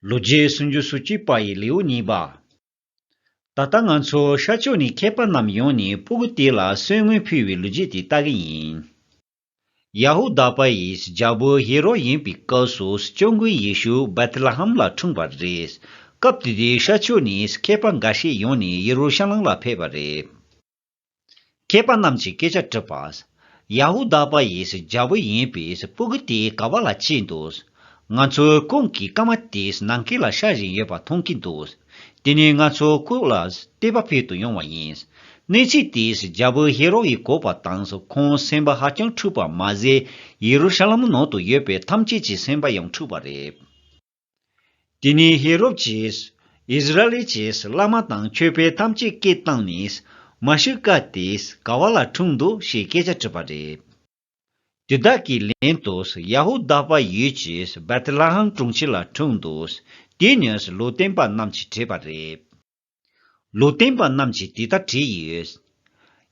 ལོ་རྒྱུས་སུམ་ཅུ་སོ་གཅིག་པ་ཡི་ལེའུ་གཉིས་པ། ད་ལྟ་ང་ཚོའི་ཤར་ཕྱོགས་ནས་མཁས་པ་རྣམས་ཡོང་ནས་པུ་ཀུ་ཏི་ལ་གསོན་དངུལ་ཕུལ་བའི་ལོ་རྒྱུས་དེ་ལྟ་གི་ཡིན། ཡ་ཧུ་དཱ་པ་ཡིས་རྒྱལ་པོ་ཧེ་རོ་ཡིན་པའི་སྐབས་སུ་སྐྱབས་མགོན་ཡེ་ཤུ་བེཐ་ལ་ཧམ་ལ་འཁྲུངས་པ་རེད། སྐབས་དེ་དུས་ཤར་ཕྱོགས་ནས་མཁས་པ་འགའ་ཤས་ཡོང་ནས་ཡེ་རུ་ཤ་ལམ་ལ་ཕེབས་པ་རེད། མཁས་པ་རྣམས་ཀྱིས་སྐད་ཆ་དྲིས་པ། ཡ་ཧུ་དཱ་པ་ཡིས་རྒྱལ་པོ་ཡིན་པས་སྤུ་གུ་དེ་ག་བ་ལ་སྐྱེས་འདུག། ང་ཚོའི་ཀུན་གྱིས་སྐར་མ་དེ་ནང་སྐེ་ལ་ཤར་བཞིན་ཡོད་པ་མཐོང་གི་འདུག་དེ་ནི་ང་ཚོ་ཀུན་ལ་བལྟས་པ་ཕེབས་དུ་ཡོང་བ་ཡིན། གནས་ཚུལ་དེས་རྒྱལ་པོ་ཧེ་རོ་ཡི་གོ་བ་དང་ཁོང་སེམས་པ་ཧ་ཅང་འཁྲུགས་པ་མ་ཟད་ཡེ་རུ་ཤ་ལེམ་ནང་དུ་ཡོད་པའི་ཐམས་ཅད་ཀྱི་སེམས་པ་ཡང་འཁྲུགས་པ་རེད། དེ་ནས་ཧེ་རོབ་ཀྱིས་ཨིསི་རཱཨེལ་གྱིས་བླ་མ་དང་ཁྱོད་པའི་ཐམས་ཅད་སྐད་བཏང་ནས་མཱ་ཤི་ཀ་དེས་ག་བ་ལ་འཁྲུངས་འདུག་ཞེས་སྐད་ཆ་དྲིས་པ་རེད། དེ་དག་གི་ལན་དུ་ཡ་ཧུ་དཱ་པ་ཡུལ་གྱི་བེ་ཐི་ལ་ཧམ་གྲོང་ཁྱེར་ལ་འཁྲུངས་འདུག་དེ་ནས་ལུས་བསྟན་པ་རྣམས་ཀྱིས་དྲིས་པ་རེད། ལུས་རྟེན་པ་རྣམས་ཀྱིས་དེ་ལྟར་བྲིས་ཡོད།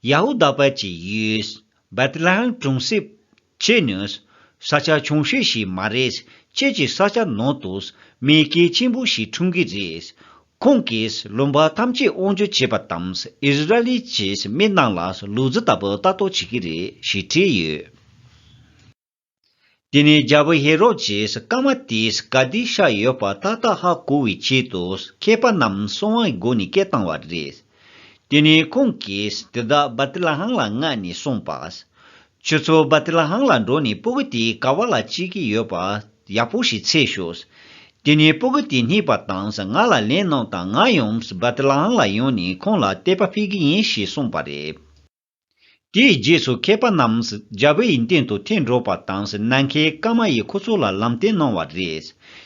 ཡ་ཧུ་དཱ་བར་གྱི་ཡུལ། བེད་ལེ་ཧེམ་གྲོང་གསེབ། ཅེས་ནི། ས་ཆ་ཆུང་ཤོས་ཤིག་མ་རེད། ཁྱེད་ཀྱི་ས་ཆ་ནང་དུ། མི་སྐད་ཆེན་པོ་ཞིག་འཁྲུངས་ཀྱི་རེད། ཁོང་གིས་ལུང་པ་ཐམས་ཅད་དབང་བསྒྱུར་བྱས་པ་དང་ཨིསི་རཱ་ལིའི་ཀྱི་མི་རྣམས་ལ་ལུས་རྫི་ལྟ་བུ་ལྟ་རྟོག་བྱེད་ཀྱི་རེད་ཞེས་བྲིས་ཡོད། དེ་ནས་རྒྱལ་པོ་ཧེ་རོ་དཱིས་སྐར་མ་དེའི་སྐལ་ལྡན་ཤར་ཡོད་པ་ཏག་ཏག་ཧ་གོ་བའི་ཆེད་དུ་མཁས་པ་རྣམས་གསང་བའི་སྒོ་ནས་སྐད་བཏང་བ་རེད། དེ་ནས་ཁོང་གིས་དེ་དག་བཱ་ཏི་ལ་ཧང་ལ་མངགས་ནས་གསུངས་པ། ཁྱོད་ཚོ་བཱ་ཏི་ལ་ཧང་ལ་འགྲོ་ནས་སྤུ་གུ་དེའི་ཀ་བ་ལ་ཅི་གི་ཡོད་པ་ཡག་པོ་ཞིག་འཚལ་ཤོག། དེ་ནས་སྤུ་གུ་དེ་རྙེད་པ་དང་ང་ལ་ལན་གནང་དང་ང་ཡང་བཱ་ཏི་ལ་ཧང་ལ་ཡོང་ནས་ཁོང་ལ་དད་པ་འཕེལ་གི་ཡིན་ཞེས་གསུངས་པ་རེད། དེའི་རྗེས་སུ་མཁས་པ་རྣམས་རྒྱ་བལ་ཡུལ་སྟེང་དུ་ཐེངས་འགྲོ་བ་དང་ནམ་མཁའི་སྐར་མ་ཡིས་ཁོ་ཚོ་ལ་ལམ་སྟོན་གནང་བ་རེད།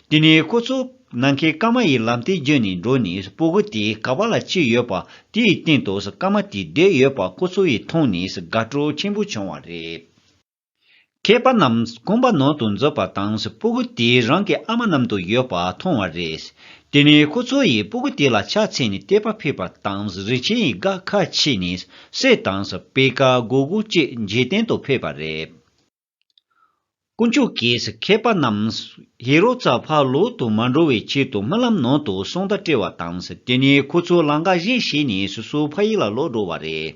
དེ་ནས་ཁོ་ཚོ་ནམ་མཁའི་སྐར་མ་ཡི་ལམ་སྟོན་བརྒྱུད་ནས་འགྲོ་ནས་སྤོ་གི་དེ་ག་བ་ལ་ཅི་ཡོད་པ་དེའི་སྟེང་དུ་སྐར་མ་དེ་བསྡད་ཡོད་པ་ཁོ་ཚོ་ཡི་མཐོང་ནས་དགའ་སྤྲོ་ཆེན་པོ་བྱུང་བ་རེད། མཁས་པ་རྣམས་དཀོན་པ་ནང་དུ་འཛུལ་བ་དང་སྤུ་གུ་དེ་རང་གི་ཨ་མ་རྣམས་དུ་ཡོད་པ་མཐོང་བ་རེད། དེ་ནས་ཁོ་ཚོ་ཡིས་སྤུ་གུ་དེ་ལ་ཕྱག་འཚལ་ནས་བལྟས་པ་ཕེབས་པ་དང་རིན་ཆེན་ཡི་དགའ་ཁ་ཕྱེས་ནས་སྲས་དང་སྤེལ་ཀ་སྒོ་དགུ་བཅས་འཇིག་རྟེན་དུ་ཕེབས་པ་རེད། དཀོན་མཆོག་གིས་མཁས་པ་རྣམས་ཧེ་རོ་ཙཱ་ཕ་ལོག་ཏུ་མ་འགྲོ་བའི་ཆེད་དུ་རྨི་ལམ་ནང་དུ་གསུང་བརྡ་སྤྲད་བ་དང་དེ་ནས་ཁོ་ཚོ་ལང་ཀ་བཞེངས་བྱས་ནས་སོ་སོའི་ཕ་ཡུལ་ལ་ལོག་འགྲོ་བ་རེད།